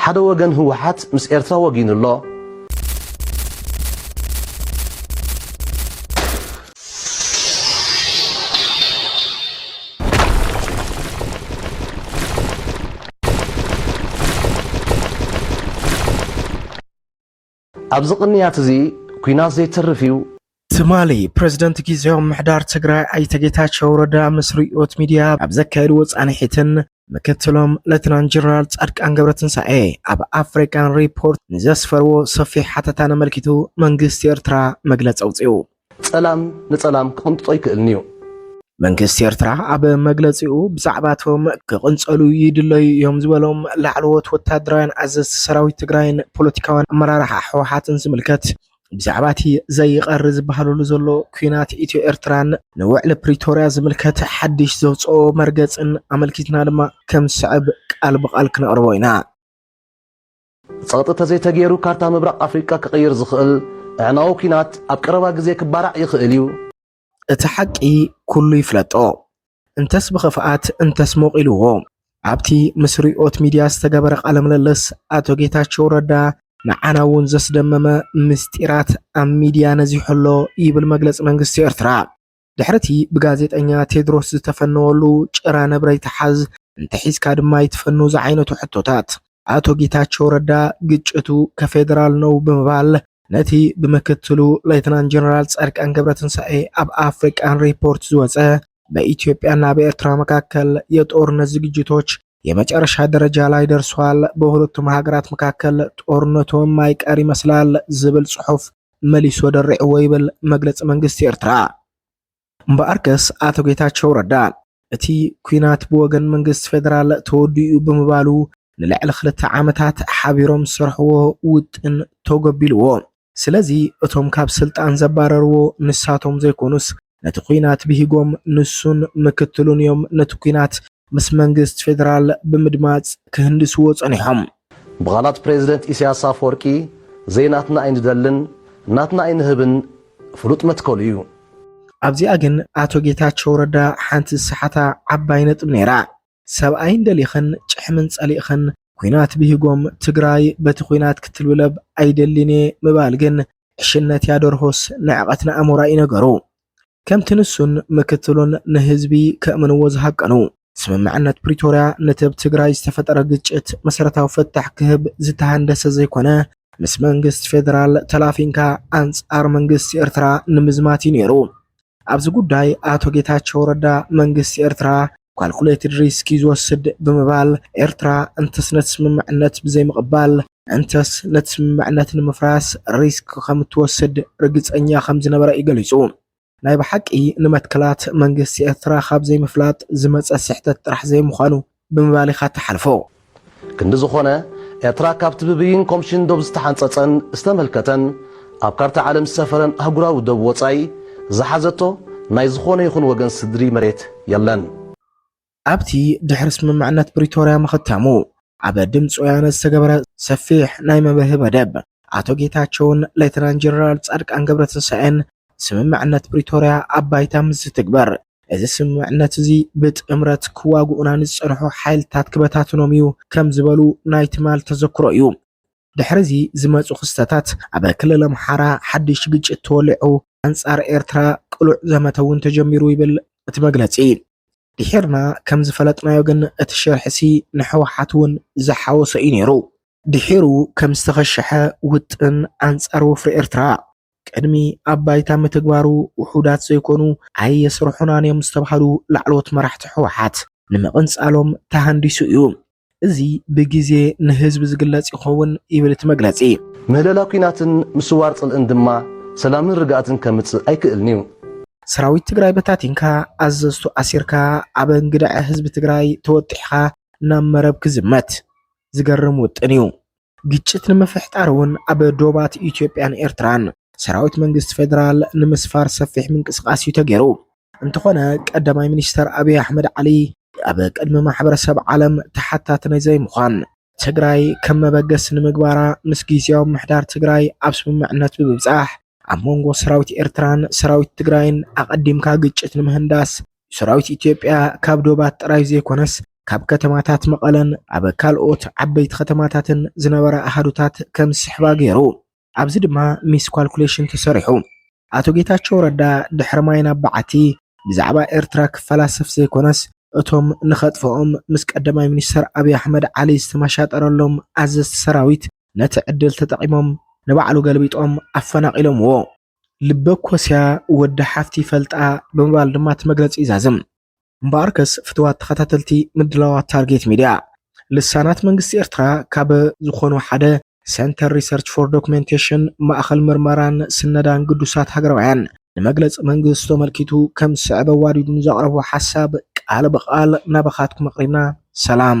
ሓደ ወገን ህወሓት ምስ ኤርትራ ወጊኑ ኣሎ። ኣብዚ ቅንያት እዚ ኩናት ዘይተርፍ እዩ። ትማሊ ፕረዚደንት ጊዜያዊ ምምሕዳር ትግራይ ኣይተ ጌታቸው ረዳ ምስ ርእዮት ሚድያ ኣብ ዘካየድዎ ፃንሒትን ምክትሎም ሌተናንት ጀነራል ፃድቃን ገብረትንሳኤ ኣብ ኣፍሪካን ሪፖርት ንዘስፈርዎ ሰፊሕ ሓተታን ኣመልኪቱ መንግስቲ ኤርትራ መግለፂ ኣውፂኡ። ጸላም ንጸላም ክቕንጥጦ ይክእልን'ዩ። መንግስቲ ኤርትራ ኣብ መግለጺኡ፣ ብዛዕባ'ቶም ክቕንጸሉ ይድለዩ እዮም ዝበሎም ላዕለዎት ወተሃደራውያን ኣዘዝቲ ሰራዊት ትግራይን ፖለቲካውያን ኣመራርሓ ህወሓትን ዝምልከት፣ ብዛዕባ'ቲ ዘይቐሪ ዝበሃለሉ ዘሎ ኲናት ኢትዮ-ኤርትራን፣ ንውዕሊ ፕሪቶርያ ዝምልከት ሓድሽ ዘውጽኦ መርገጽን ኣመልኪትና ድማ ከም ዝስዕብ ቃል ብቓል ክነቕርቦ ኢና። ጸቕጢ ተዘይተገይሩ ካርታ ምብራቕ ኣፍሪቃ ክቕይር ዝኽእል ኣዕናዊ ኲናት ኣብ ቀረባ ግዜ ክባራዕ ይኽእል እዩ። እቲ ሓቂ ኩሉ ይፍለጦ እንተስ ብኽፍኣት እንተስ ሞቕ ኢልዎ ኣብቲ ምስ ሪኦት ሚድያ ዝተገበረ ቃለ ምልልስ ኣቶ ጌታቸው ረዳ ንዓና እውን ዘስደመመ ምስጢራት ኣብ ሚድያ ነዚሑ ኣሎ ይብል መግለፂ መንግስቲ ኤርትራ። ድሕሪ እቲ ብጋዜጠኛ ቴድሮስ ዝተፈነወሉ ጭራ ነብረ ይትሓዝ እንተሒዝካ ድማ ይትፈኑ ዝዓይነቱ ሕቶታት፣ ኣቶ ጌታቸው ረዳ ግጭቱ ከፌደራል ነው ብምባል ነቲ ብምክትሉ ሌተናንት ጀነራል ፃድቃን ገብረትንሳኤ ኣብ ኣፍሪቃን ሪፖርት ዝወፀ በኢትዮጵያና በኤርትራ መካከል የጦርነት ዝግጅቶች የመጨረሻ ደረጃ ላይ ደርሷል፣ በሁለቱም ሃገራት መካከል ጦርነቱ የማይቀር ይመስላል ዝብል ጽሑፍ መሊሱ ደሪዕዎ ይብል መግለጺ መንግስቲ ኤርትራ። እምበኣርከስ ኣቶ ጌታቸው ረዳ እቲ ኩናት ብወገን መንግስቲ ፌደራል ተወዲኡ ብምባሉ ንልዕሊ ክልተ ዓመታት ሓቢሮም ዝሰርሕዎ ውጥን ተጎቢልዎ። ስለዚ እቶም ካብ ስልጣን ዘባረርዎ ንሳቶም ዘይኮኑስ ነቲ ኲናት ብሂጎም ንሱን ምክትሉን እዮም ነቲ ኲናት ምስ መንግስቲ ፌደራል ብምድማጽ ክህንድስዎ ጸኒሖም። ብቓላት ፕሬዝደንት ኢሳያስ ኣፈወርቂ ዘይናትና ኣይንደልን ናትና ኣይንህብን ፍሉጥ መትከሉ እዩ። ኣብዚኣ ግን ኣቶ ጌታቸው ረዳ ሓንቲ ዝሰሓታ ዓባይ ነጥብ ነይራ። ሰብኣይን ደሊኽን ጭሕምን ጸሊእኽን ኩናት ብሂጎም ትግራይ በቲ ኩናት ክትልብለብ ኣይደሊን'የ ምባል ግን ዕሽነት'ያ ደርሆስ ንዕቀት ንኣሞራ'ዩ ነገሩ። ከምቲ ንሱን ምክትሉን ንህዝቢ ከእምንዎ ዝሃቀኑ። ስምምዕነት ፕሪቶርያ ነቲ ኣብ ትግራይ ዝተፈጠረ ግጭት መሰረታዊ ፍታሕ ክህብ ዝተሃንደሰ ዘይኮነ ምስ መንግስቲ ፌደራል ተላፊንካ ኣንጻር መንግስቲ ኤርትራ ንምዝማት'ዩ ነይሩ። ኣብዚ ጉዳይ ኣቶ ጌታቸው ረዳ መንግስቲ ኤርትራ ኳልኩሌትድ ሪስክ እዩ ዝወስድ ብምባል ኤርትራ እንተስ ነቲ ስምምዕነት ብዘይምቕባል እንተስ ነቲ ስምምዕነት ንምፍራስ ሪስክ ከም እትወስድ ርግጸኛ ከም ዝነበረ እዩ ገሊጹ። ናይ ብሓቂ ንመትከላት መንግስቲ ኤርትራ ካብ ዘይምፍላጥ ዝመጸ ስሕተት ጥራሕ ዘይምዃኑ ብምባል ኢኻ እትሓልፎ። ክንዲ ዝኾነ፣ ኤርትራ ካብቲ ብብይን ኮምሽን ዶብ ዝተሓንጸጸን ዝተመልከተን ኣብ ካርታ ዓለም ዝሰፈረን ኣህጉራዊ ዶብ ወጻኢ ዝሓዘቶ ናይ ዝኾነ ይኹን ወገን ስድሪ መሬት የለን። ኣብቲ ድሕሪ ስምምዕነት ፕሪቶርያ ምኽታሙ ኣብ ድምጺ ወያነ ዝተገበረ ሰፊሕ ናይ መብርሂ መደብ፣ ኣቶ ጌታቸውን ሌተናንት ጀነራል ጻድቃን ገብረትንሳኤን ስምምዕነት ፕሪቶርያ ኣብ ባይታ ምስ ዝትግበር፣ እዚ ስምምዕነት እዚ ብጥምረት ክዋግኡና ንዝጸንሑ ሓይልታት ክበታትኖም እዩ ከም ዝበሉ ናይ ትማል ተዘክሮ እዩ። ድሕሪ እዚ ዝመጹ ክስተታት ኣብ ክልል ኣምሓራ ሓድሽ ግጭት ተወሊዑ ኣንጻር ኤርትራ ቅሉዕ ዘመተ እውን ተጀሚሩ ይብል እቲ መግለጺ። ድሒርና ከም ዝፈለጥናዮ ግን እቲ ሽርሒሲ ንሕወሓት እውን ዝሓወሰ እዩ ነይሩ። ድሒሩ ከም ዝተኸሸሐ ውጥን ኣንጻር ወፍሪ ኤርትራ። ቅድሚ ኣብ ባይታ ምትግባሩ ውሑዳት ዘይኮኑ ኣይየስርሑናን እዮም ዝተብሃሉ ላዕለዎት መራሕቲ ህወሓት ንምቕንጻሎም ተሃንዲሱ እዩ። እዚ ብግዜ ንህዝቢ ዝግለጽ ይኸውን ይብል እቲ መግለጺ። ምህለላ ኲናትን ምስዋር ጽልእን ድማ ሰላምን ርግኣትን ከምጽእ ኣይክእልን'ዩ። ሰራዊት ትግራይ በታቲንካ፣ ኣዘዝቱ ኣሲርካ፣ ኣብ እንግድዐ ህዝቢ ትግራይ ተወጢሕኻ ናብ መረብ ክዝመት። ዝገርም ውጥን እዩ። ግጭት ንምፍሕጣር እውን ኣብ ዶባት ኢትዮጵያን ኤርትራን ሰራዊት መንግስቲ ፌደራል ንምስፋር ሰፊሕ ምንቅስቓስ እዩ ተገይሩ። እንተኾነ ቀዳማይ ሚኒስተር ኣብይ ኣሕመድ ዓሊ ኣብ ቅድሚ ማሕበረሰብ ዓለም ተሓታቲ ናይ ዘይምዃን ትግራይ ከም መበገሲ ንምግባራ ምስ ግዝያዊ ምሕዳር ትግራይ ኣብ ስምምዕነት ብምብጻሕ ኣብ መንጎ ሰራዊት ኤርትራን ሰራዊት ትግራይን ኣቐዲምካ ግጭት ንምህንዳስ ሰራዊት ኢትዮጵያ ካብ ዶባት ጥራይ ዘይኮነስ ካብ ከተማታት መቐለን ኣብ ካልኦት ዓበይቲ ከተማታትን ዝነበራ ኣሃዱታት ከም ዝስሕባ ገይሩ ኣብዚ ድማ ሚስ ኳልኩሌሽን ተሰሪሑ። ኣቶ ጌታቸው ረዳ ድሕሪ ማይ ናብ በዓቲ ብዛዕባ ኤርትራ ክፈላሰፍ ዘይኮነስ እቶም ንኸጥፍኦም ምስ ቀዳማይ ሚኒስተር ኣብይ ኣሕመድ ዓሊ ዝተመሻጠረሎም ኣዘዝቲ ሰራዊት ነቲ ዕድል ተጠቒሞም ንባዕሉ ገልቢጦም ኣፈናቒሎምዎ። ልበኮስያ ወዲ ሓፍቲ ይፈልጣ ብምባል ድማ እቲ መግለጺ ይዛዝም። እምበኣርከስ ፍትዋት ተኸታተልቲ ምድላዋት ታርጌት ሚድያ፣ ልሳናት መንግስቲ ኤርትራ ካብ ዝኾኑ ሓደ፣ ሰንተር ሪሰርች ፎር ዶክመንቴሽን፣ ማእኸል ምርመራን ስነዳን ግዱሳት ሃገራውያን፣ ንመግለጺ መንግስቱ ኣመልኪቱ ከም ዝስዕብ ኣዋዲዱ ንዘቕረቦ ሓሳብ ቃል ብቓል ናባኻትኩም ኣቕሪብና። ሰላም።